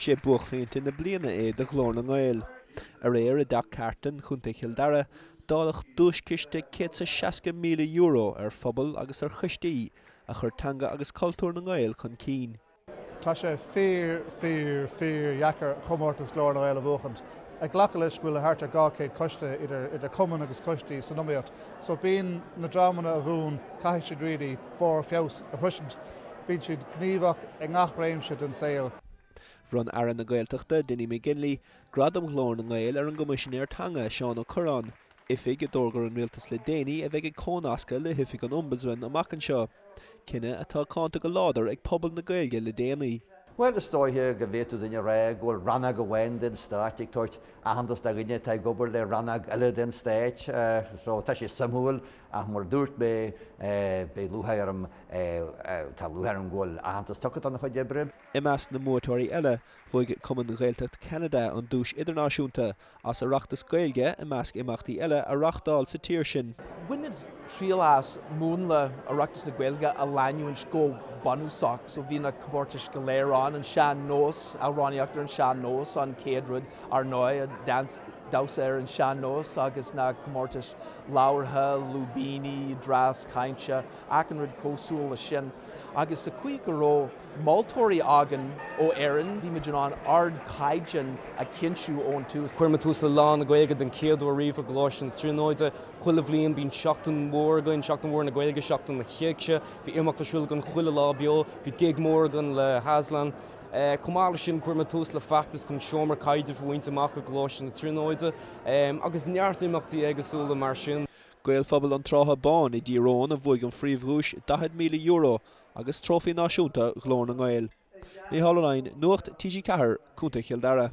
Sé buaicphointe na bliana é do Ghlór na nGael. Aréir i dTeach Carton, Contae Chill Dara, dáileadh duaischiste céad is seasca míle euro ar phobail agus ar choistí a chuir teanga agus cultúr na nGael chun cinn. Tá sé fíor, fíor, fíor dheacair comórtas Ghlór na nGael a bhuachaint. Ag glacadh leis go bhfuil thart ar dhá chéad coiste, idir cumainn agus coistí, san iomaíocht. So bíonn na dreamanna a bhuann, caithfidh siad really barr feabhas a shroisint. Bíonn siad gníomhach i ngach réimse den saol. Bhronn Aire na Gaeltachta, Dinny McGinley, Gradam Ghlór na nGael ar an gCoimisinéir Teanga, Seán Ó Cuirreáin, oifig a d'fhógair an Rialtas le déanaí a bheidh ag cónascadh le hoifig an Ombudsman amach anseo, cinneadh atá cáinte go láidir ag pobal na Gaeilge le déanaí. Bhuel, is dóiche go bhféadfadh duine a rá go bhfuil rannóg amháin den stáit ag tabhairt aitheantas do dhuine atá ag obair le rannóg eile den stáit. So tá sé suimiúil Ach mar a dúirt mé, beidh lúthgháir orm, tá lúthgháir orm go bhfuil aitheantas tugtha dona chuid oibre. I measc na mbuaiteoirí eile, bhuaigh Cumann Ghaeltacht Cheanada an duais idirnáisiúnta as Oireachtas Gaeilge i measc imeachtaí eile a reáchtáil sa tír sin. Bhain muid triail as múnla Oireachtas na Gaeilge a leanúint go bunúsach, so bhí na comórtais go léir ann, an sean-nós, amhránaíocht ar an sean-nós an chéad rud, ár ndóigh, damhsa ar an sean-nós agus na comórtais labhartha, lúibíní, dreas cainte, achan rud cósúil leis sin. Agus sa caoi go raibh moltóirí againn ó Éirinn, bhí muid in ann ardchaighdeán a chinntiú ón tús. Chuir muid tús le Lá na Gaeilge den chéad uair riamh i gColáiste na Tríonóide. Chuile bhliain bíonn seachtain mhór againn, Seachtain Mhór na Gaeilge, Seachtain na hÉigse. Bhí imeacht ar siúl againn chuile lá beo. Bhí gig mór againn le hAslan. Chomh maith le sin chuir muid tús le feachtas chun seomra caidrimh a bhaint amach i gColáiste na Tríonóide. agus neart imeachtaí éagsúla mar sin. Gaelphobal an tSratha Báin i dTír Eoghain a bhuaigh an phríomhdhuais €40,000 agus Trófaí Náisiúnta Ghlór na nGael. Mícheál Ó Leidhin, Nuacht TG4, Co. Chill Dara.